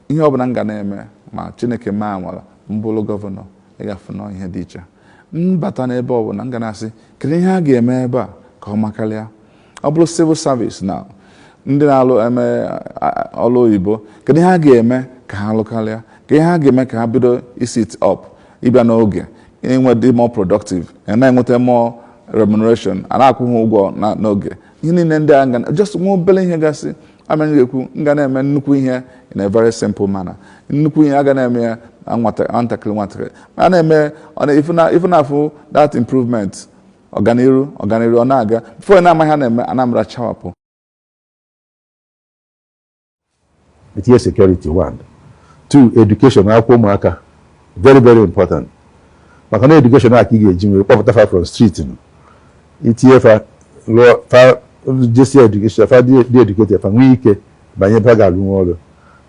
ihe ọbụla m ga na-eme ma chineke mee amala m bụrụ gọvanọ ị ga-afụ na ihe dị iche m bata n'ebe ọbụla m ga na-asị kedu ihe a ga-eme ebe a ka ọ makarịa ọ bụrụ civil service na ndị na-alụ eme ọrụ oyibo kedu ihe a ga-eme ka ha lụkarịa ka ihe a ga-eme ka ha bido isit up ịbịa n'oge inwe dị more productive na inweta more remuneration a na-akwụ ha ụgwọ n'oge ihe niile ndị a m ga na just nwa obere ihe gasị ama ga-ekwu m ga na-eme nnukwu ihe in a very simple manner nnukwu ihe a ga na-eme ya nwatakịrị nwatakịrị a na-eme ife na-afụ that improvement ọganiru ọganiru ọ na-aga before ị na-ama ihe na-eme Anambra chawapụ itinye security one two education akwụkwọ ụmụaka very very important maka na education a ka ị ga-eji wee kpọpụta fa from street itinye fa lụọ fa jesie education fa dị dị educated fa nwee ike banye ebe ha ga-alụ nwa ọrụ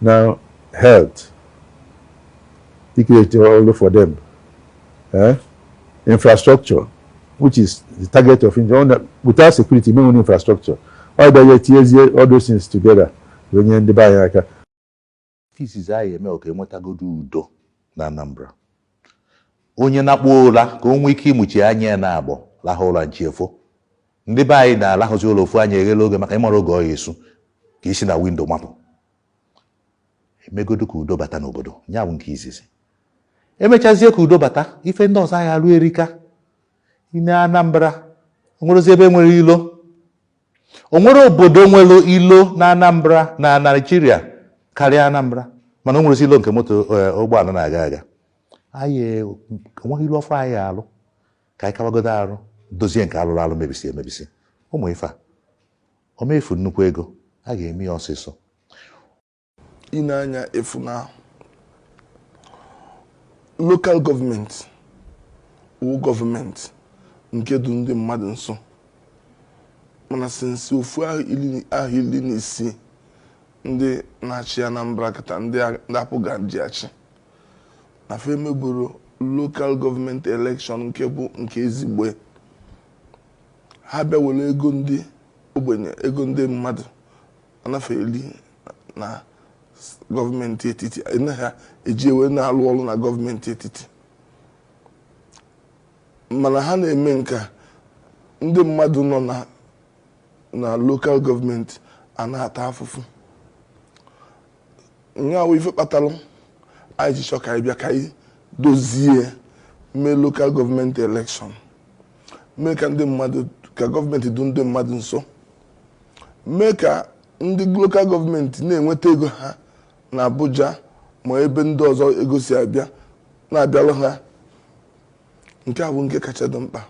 na health icreate ọrụ for them eh? infrastructure which is the target of engineering without security ama enwe infrastructure ọ bịa ya etinyezie all those things together wee nye ndị be anyị aka izizi anyị eme ka enwetagodo udo na Anambra onye nakpuo ụra ka o nwee ike ịmụchi anya ya naabọ lahụ ụra chi efo ndị be anyị na-alahụzi ụla ofu anya eghela oghe maka ịmara oge ọ ya-esu ka i si na windo mapụ emegodu ka udo bata n'obodo ya bụ nke izizi emechazie ka udo bata ife ndị ọzọ a ga-arụ erika ị nee Anambra onwerozi ebe nwere ilo onwere obodo nwere ilo na Anambra na Naijiria karịa Anambra mana o nwerozi ilo nke moto eh, ụgbọala na-aga aga anyị onweghị ilo ọfụụ anyị alụ ka anyị kawagodo arụ dozie nke alụrụ alụ mebisi emebisi ụmụ ife a ọ ma-efu nnukwu ego a ga-eme ya ọsịsọ ị nee anya ị fụ na lokal gọọmenti wụ gọọmenti nke dụ ndị mmadụ nso mana since ofu ahọ iri na isii ndị na-achị Anambra kata ndị APGA ji achị na fa emeburo lokal gọọmenti elekshọn nke bụ nke ezigbo ha bịa were ego ndị ogbenye ego ndị mmadụ ana fa eli na gọọmenti etiti ha eji wee na-alụ ọrụ na gọọmenti etiti mana ha na-eme nke a, ndị mmadụ nọ na na lokal gọọmenti a na-ata afụfụ nya wụ ife kpatara anyị ji chọ ka anyị bịa ka anyị dozie mee lokal gọọmenti elekshọn mee ka ndị mmadụ ka gọọmenti dụ ndị mmadụ nso mee ka ndị local gọọmenti na-enweta ego ha na Abuja ma ebe ndị ọzọ ego si abịa na-abịalụ ha nke a bụ nke kacha dị mkpa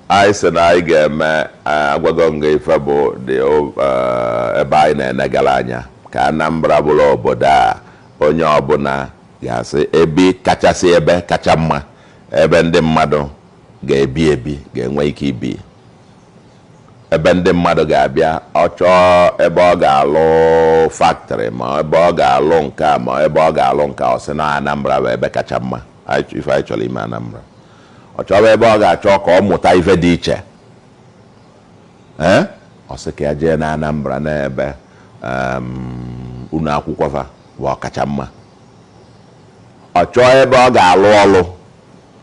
anyị sị na anyị ga-eme eh, agwago m gị ife bụ dị o- eh, ebe anyị na-enegara anya ka Anambra bụrụ obodo a onye ọbụla ga-asị ebe kachasị ebe kacha mma ebe ndị mmadụ ga-ebi ebi ga-enwe ike ibi ebe ndị mmadụ ga-abịa ọ chọọ ebe ọ ga-alụ factory ma ebe ọ ga-alụ nke a ma ebe ọ ga-alụ nke a ọ sị na Anambra bụ ebe kacha mma ife anyị chọrọ ime Anambra ọ chọba ebe ọ ga-achọ ka ọ mụta ife dị iche ee ọ sị ka ya jee na Anambra n'ebe ụnọ akwụkwọ fa bụ ọkacha mma ọ chọọ ebe ọ ga-alụ ọlụ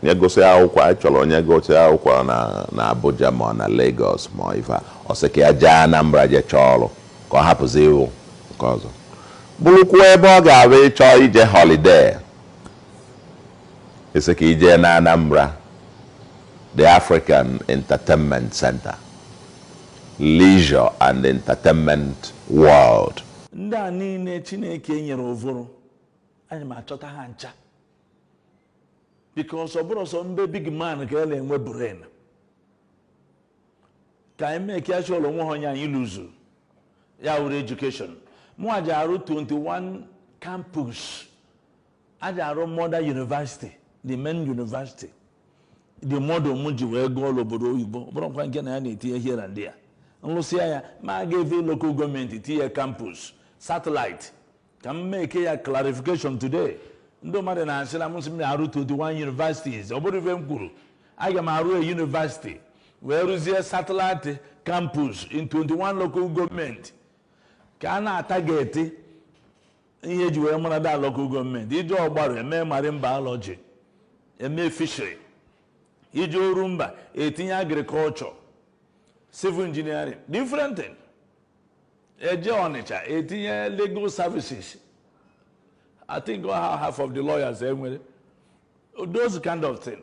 Onye gụsịa akwụkwọ, anyị chọrọ onye gụsịa akwụkwọ na Abuja ma ọ na Lagos ma ọ ife a, ọ sị ka ya jee Anambra jee chọọ ọrụ ka ọ hapụzi ịwụ nke ọzọ. Bụrụkwuo ebe ọ ga-abụ ị chọọ ije holiday, ị sị ka i jee n'Anambra, the African Entertainment Centre, Leisure and Entertainment World. Ndị a niile Chineke nyere ụvụrụ, aja m achọta ha ncha. because ọ bụrọ sọ na be big man ka a na-enwe brain ka anyị mee ka chọrọ onwe ha onye anyị lụzuru ya wuru education mụ aja arụ 21 campus a ja-arụ mother university the main university the model m ji wee gụọ n'obodo oyibo bụrụkwa nke na ya na-etinye here and there m lụsịa ya m agafee local gọọmenti tinye campus satellite ka m make ya clarification today ndị mmadụ na-asị na mụ sị m na-arụ 21 universities ọ bụrọ ife m kwuru aga m arụ a university wee rụzie satellite campus in 21 local gọọmenti ka a na-atarget ihe e ji wee mara that local gọọmenti i jee Ogbaru e mee marine biology e mee fishery i jee Orumba e tinye agriculture civil engineering different thing eje Ọnịcha etinye legal services I think all ha half of the lawyers enwere those kind of thing